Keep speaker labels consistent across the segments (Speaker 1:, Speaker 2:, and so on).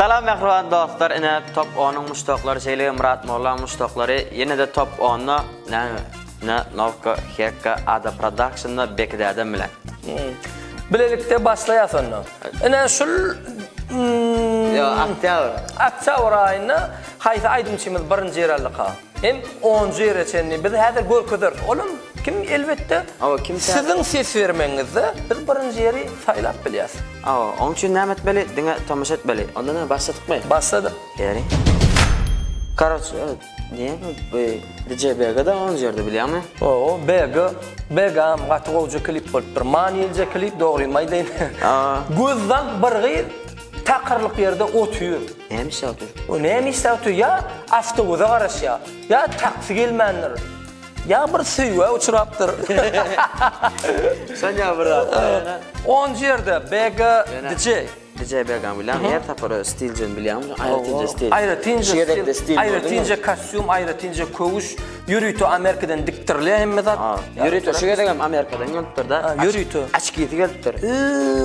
Speaker 1: Salam mähriban dostlar, ine top 10-yň muşdaklary şeýle Myrat Molla muşdaklary ýene-de top 10-da näme? Ne Novka Hekka Ada Production-da Beki dädem bilen. Bilelikde
Speaker 2: başlaýas onda. Ine şul Ýa, oktýabr. Oktýabr aýynda haýsy aýdymçymyz birinji ýer aldyka? Hem onjy ýere çenli biz häzir görkezeris. Olam kim elbetde Hawa kim tä. Siziň ses bermegiňizde biz birinji ýeri saýlap bilýäs. Hawa oň üçin näme
Speaker 1: etmeli diňe tomaşa etmeli. Onda näme başladykmy? Başladyk. Beri. Karoç diýen bu DJ Begada onjy ýerde bilýäňmi? Owo Bega
Speaker 2: Begam gaty gowja klip bolupdyr. Manylyja klip dogrymy aýdaýyn. Hawa. Göz zank bir gyz. Takyrlyk ýerde otyr. Näme işläp otyr?
Speaker 1: O näme işläp otyr?
Speaker 2: Ýa awtobusa garaşýar, ýa taksi gelmändir. Ýa bir söýgä uçrapdyr.
Speaker 1: Sonýa bir zat. Onunjy
Speaker 2: ýerde BG DJ. DJ
Speaker 1: BG-ň bilen her tapara stilcini bilýäňmi? Aýratynja stil. Aýratynja
Speaker 2: stil. Aýratynja kostýum, aýratynja köwüş. Ýörite Amerikadan dikdirilýär hemme zat. Ha, ýörite şu gezek hem
Speaker 1: Amerikadan gelipdir da. Ýörite. Açkisi
Speaker 2: gelipdir.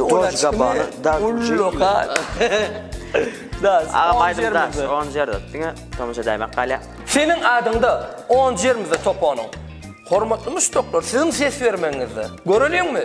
Speaker 1: Ol açkabany
Speaker 2: da. Ulloka. Da.
Speaker 1: Aga baýdymda. On ýerde. Diňe tomaşa edäýmek galýa. Seniň adyňda
Speaker 2: on ýerde topanyň. Hormatly muşdaklar, siziň ses bermegiňizde. Göreliňmi?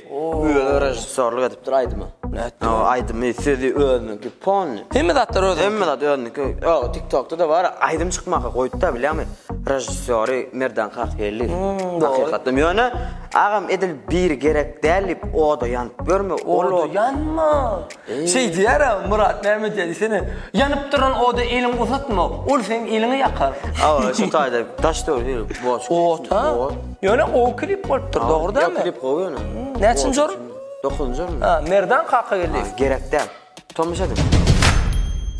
Speaker 1: Özi režissýorlyk edipdir aýdyma. Nätdi? Aýdymy, sözi özüniňki polny. Hemme zatlar özüniňki. Hemme
Speaker 2: zat özüniňki.
Speaker 1: Ýok, TikTokda-da bar, aýdym çykmaka goýupda bilýäňmi? Režissýory Merdan Kakgeldiýew. Hakykatdan. Ýöne agam edil biri gerek däl diýip oda ýanyp ýörme. Oda ýanma.
Speaker 2: Şeý diýer-ä, Myrat Mämmetýa diýsene, Ýanyp duran oda eliňi uzatma, ol seniň eliňi ýakar. Hawa, şu taýda
Speaker 1: daş döwri hili boş. Ot, ha?
Speaker 2: Ýöne gowy klip bolupdyr, dogry dälmi? Ýok, klip gowy ýöne.
Speaker 1: Näçinji orun?
Speaker 2: Dokuzynjy orun.
Speaker 1: Merdan kaka geldi.
Speaker 2: Gerek däl.
Speaker 1: Tomus ediň.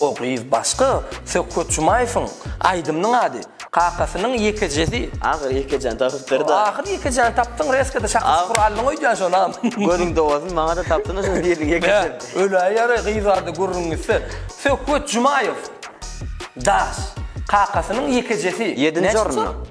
Speaker 2: O gyz başga, Söhbet Jumaýewiň aýdymynyň ady, Kakasynyň ýekejesi. Ahyry ýekejäni
Speaker 1: tapypdyr-da. Ahyry ýekejäni tapdyň,
Speaker 2: reska-da şakyşy gury aldyň öýdýän şonam. Gözüň dogazyn,
Speaker 1: maňa-da tapdyň-a şol biriniň ýekesini. Hä, öläý ýaly, gyz
Speaker 2: bardy gürrüň gitse. Söhbet Jumaýew, daş, Kakasynyň ýekejesi. Ýedinji orunda.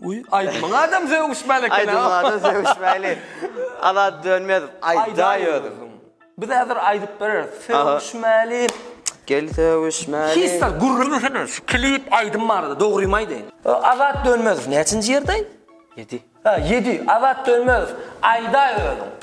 Speaker 2: Uý, aýdymyň adam sögüşmäli eken-a. Aýdymyň adam sögüşmäli.
Speaker 1: Azat Dönmezow, aýdaý özüň. Biz häzir
Speaker 2: aýdyp bereris. Sögüşmäli. Gel
Speaker 1: sögüşmäli. Hissa, gürrüň desene,
Speaker 2: şu klip, aýdym barada dogrymy aýdaýyn. Azat Dönmezow näçinji ýerdeý? Ýedi.
Speaker 1: Ýedi. Azat
Speaker 2: Dönmezow, aýdaý özüň.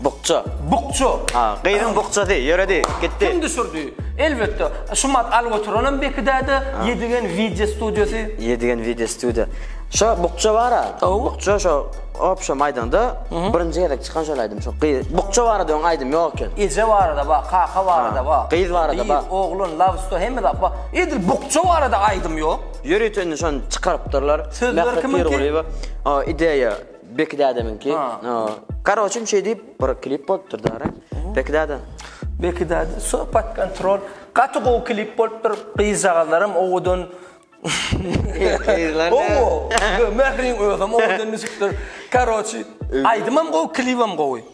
Speaker 2: Bukja.
Speaker 1: Bukja. Ha,
Speaker 2: gyzyň bukjasy,
Speaker 1: ýöredi, gitdi. Kim düşürdi?
Speaker 2: Elbetde, Şumat Algoturanam beki däde, Ýedigen wideo studiýasy. Ýedigen wideo
Speaker 1: studiýa. Şo bukja bar-a. Bukja şo obşem aýdaňda, birinji gezek çykan şol aýdym. Şo gyz, bukja barada öň aýdym ýok eken. Eje barada bar,
Speaker 2: kaka barada bar. Gyz barada bar. Gyz, oglan,
Speaker 1: love story hemme
Speaker 2: zat bar. Edil bukja barada aýdym ýok. Ýörite indi şony
Speaker 1: çykarypdyrlar. Sözler kimiňki? Mähri
Speaker 2: Pirgulyýewa. Ideýa
Speaker 1: Beki dädemiňki. Karoçim şey diýip bir klip bolupdyr dara. Beki däde. Beki däde
Speaker 2: söhbet kontrol. Gaty gowy klip bolupdyr. Gyzjagazlaram owadan. Gyzlar. Owo. Mehriň özem owadan düşüpdir. Karoçi aýdymam gowy, klibem gowy.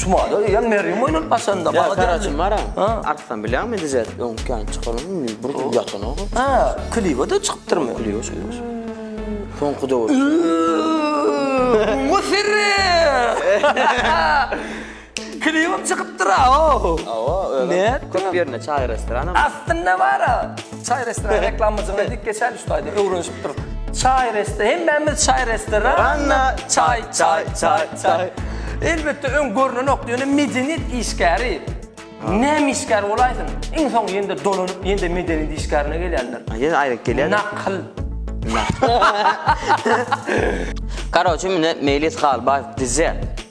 Speaker 1: Şumada
Speaker 2: ýa Merýem oýnap başanda. Ýa Karaçym mara.
Speaker 1: Artdan bilýäňmi dizet öň kän çykaryň. Bir gün ýatan o. Ha, kliba da
Speaker 2: çykypdyrmy? Kliba çykyp.
Speaker 1: Soňky döwür. Ummu
Speaker 2: sirri. Kliba çykypdyr a o. Awa, öňe. Köp ýerine çaý
Speaker 1: restoranam. Aslynda bar a.
Speaker 2: Çay restoran reklamacılığına dik geçer üstaydı, öğrenişip duruk. Çay restoran, hemmemiz çay restoran. Anna, çay, çay, çay, çay. Elbette ön görünen ok diýeni medeniyet işgäri. Näme işgär bolaýsyn? Iň soň ýende dolanyp, ýende medeniyet işgärine gelýänler. Ýene aýryk gelýär.
Speaker 1: Nakl. Karoçi mine Meýlis Halbaýew dize.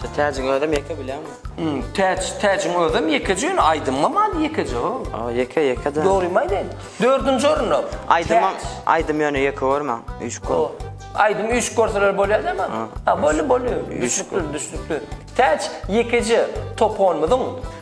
Speaker 2: Şu täjiň özem
Speaker 1: ýeke bileňmi? Hum, täç, täjiň
Speaker 2: özem ýekeje ýöne aýdymam ady ýekeje o. A, ýeke, ýeke-de. Dogrymy
Speaker 1: aýdaýyn? Dördünji
Speaker 2: orunda. Aýdymam, Täç. aýdym
Speaker 1: ýöne ýeke görmäň, üýşüp O, gör. aýdym üýşüp
Speaker 2: görseler bolýar dämi? Ha, boldy, boldy. Düşnükli, düşnükli. Täç ýekeje toponymyzyň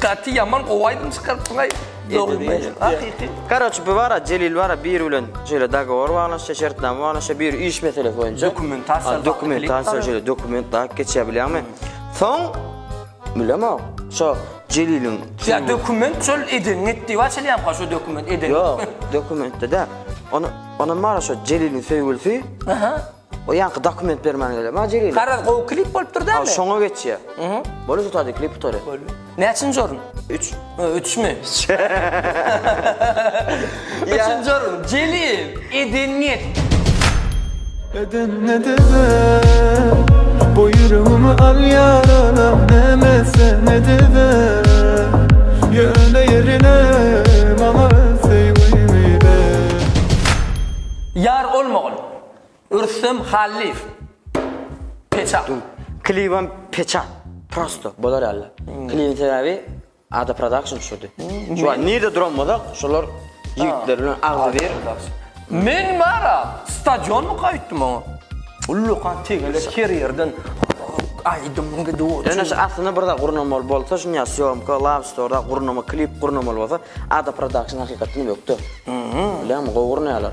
Speaker 2: Gaty ýaman gowy aýdym çykarypsyňaý Dogrymy hakyky. Karoçi
Speaker 1: bu bara Jelil bara biri bilen şeýle dagowor baglaşýa şertnama baglaşýa biri iş meselesi boýunça dokumentasiýa dokumentasiýa şeýle dokument daýyp geçýä bilýäňmi soň bilemok şo Jeliliň ýa dokument
Speaker 2: şol edeniň et diýip açylýamka şo dokument edeniň ýok dokumentde
Speaker 1: däl onam bar şo Jeliliň söýgülisi O ýanky dokument bermän gelýär. Maňa jigeli. Garaz gowy klip bolupdyr
Speaker 2: dämi? Aw şoňa geçýär. Mhm.
Speaker 1: Bolýa tutady klip tutary. Bolýa. Näçinji orun? 3.
Speaker 2: Ö, üçmi? Üçünji orun. Jelil, Edenget.
Speaker 3: Edenget eder. Bu ýüregimi al ýaralam näme sen ediber. Ýöne ýerine maňa öz söýgüňi ber.
Speaker 2: Ýar olmagyn. Rüstem Hallyýew. Peçat. Klibem
Speaker 1: peçat. Prosto. Bolar ýaly. Klibiň sebäbi Ada Production düşürdi. Şu wagt nirde duran bolsak, şolar ýigitler bilen agzybir. Men
Speaker 2: bara stadionmyka aýtdym oňa. Ullakan tegelek her ýerden aýdym gidip. Ýöne şu aslynda bir zat
Speaker 1: gurnamaly bolsa, şuny sýomka, lab storda gurnama, klip gurnamaly bolsa, Ada Production hakykatdan ökde. Bilýäňmi, gowy gurnaýarlar.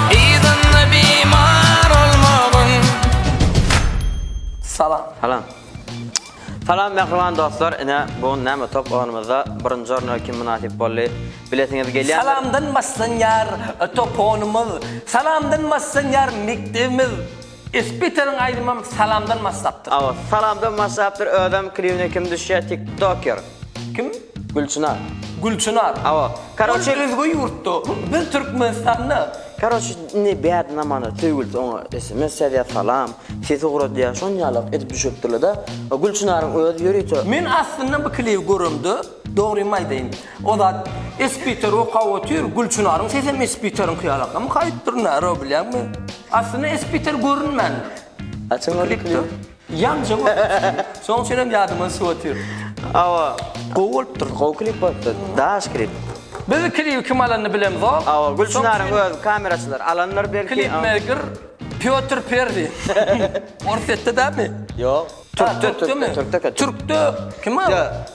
Speaker 3: Salam.
Speaker 2: Salam.
Speaker 1: Salam mähriban dostlar. Ine bu gün näme top oýnumyzda birinji orna kim mynasyp boldy? Bilesiňiz gelýär. Salamdan başlanýar
Speaker 2: top oýnumyz. Salamdan başlanýar mekdebimiz. Ispiteriň aýdymam salamdan maslapdyr.
Speaker 1: Aw salamdan
Speaker 2: maslapdyr
Speaker 1: özem klibine kim
Speaker 2: düşýä
Speaker 1: tik
Speaker 2: toker.
Speaker 1: Kim? Gülçynar. Gülçynar.
Speaker 2: Awa. Karoçe.
Speaker 1: Ol özge
Speaker 2: ýurtda. Biz Türkmenistanda. Karoçe indi
Speaker 1: bad namany söýgülisi oňa sms ýazýa salam sesi ugradýa şon ýalak edip düşüripdirlede Gülçynaryň özi ýörite. Men aslynda bu
Speaker 2: klibi göremde dogrymy aýdaýyn o zat ispiter okap otyr Gülçynaryň sesem ispiteriňki ýalakam haýpdyr nara bilýäňmi. Aslynda Espiter görünmändir. Açyň ony
Speaker 1: klip. Ýamja
Speaker 2: görünýär. Şoň üçin hem ýadymdan çykyp otyr. Hawa.
Speaker 1: Gowy bolupdyr.
Speaker 2: Gowy klip bolupdyr.
Speaker 1: Daş klip. Biz klibi
Speaker 2: kim alanyny bilemzok. Hawa, Gülçinaryň
Speaker 1: öz kameraçylary alandyr belki. Klipmeyker
Speaker 2: Pýotr Perzi. Orsýetde dälmi? Ýok. Türkde,
Speaker 1: türkde, türkde. Türkde
Speaker 2: kim ol?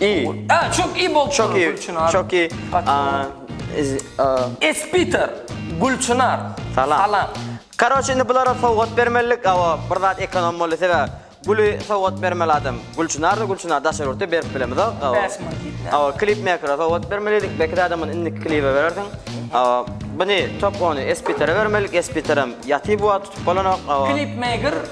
Speaker 2: İyi.
Speaker 1: Aa, çok iyi bol
Speaker 2: Çok iyi. Gülçinar. Çok iyi.
Speaker 1: Kaç-
Speaker 2: Aa,
Speaker 1: iz- aa,
Speaker 2: Espiter Gülçinar. Salam. Salam.
Speaker 1: Karoç indi bulara sowgat bermelilik. Awa, bir zat ekonom boldy sebäbi. Güli sowgat bermeli adam. Gülçinar da Gülçinar daşary ýurtda berip bilemizok. Awa. Bäş many gitmez. Awa, klip mekere sowgat bermelidik. Belki adam muny indiki klibe berersiň. Awa, buni top ony Espitere bermelilik. Espiterem ýaty bu wagt tutup bolanok. Awa. Klipmaker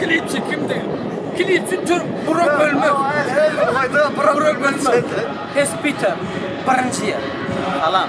Speaker 2: Kilitçi kimdi? Kilitçi Türk Burak Ölmez. Burak Ölmez. Hes
Speaker 1: Peter.
Speaker 2: Birinci yer. Alam.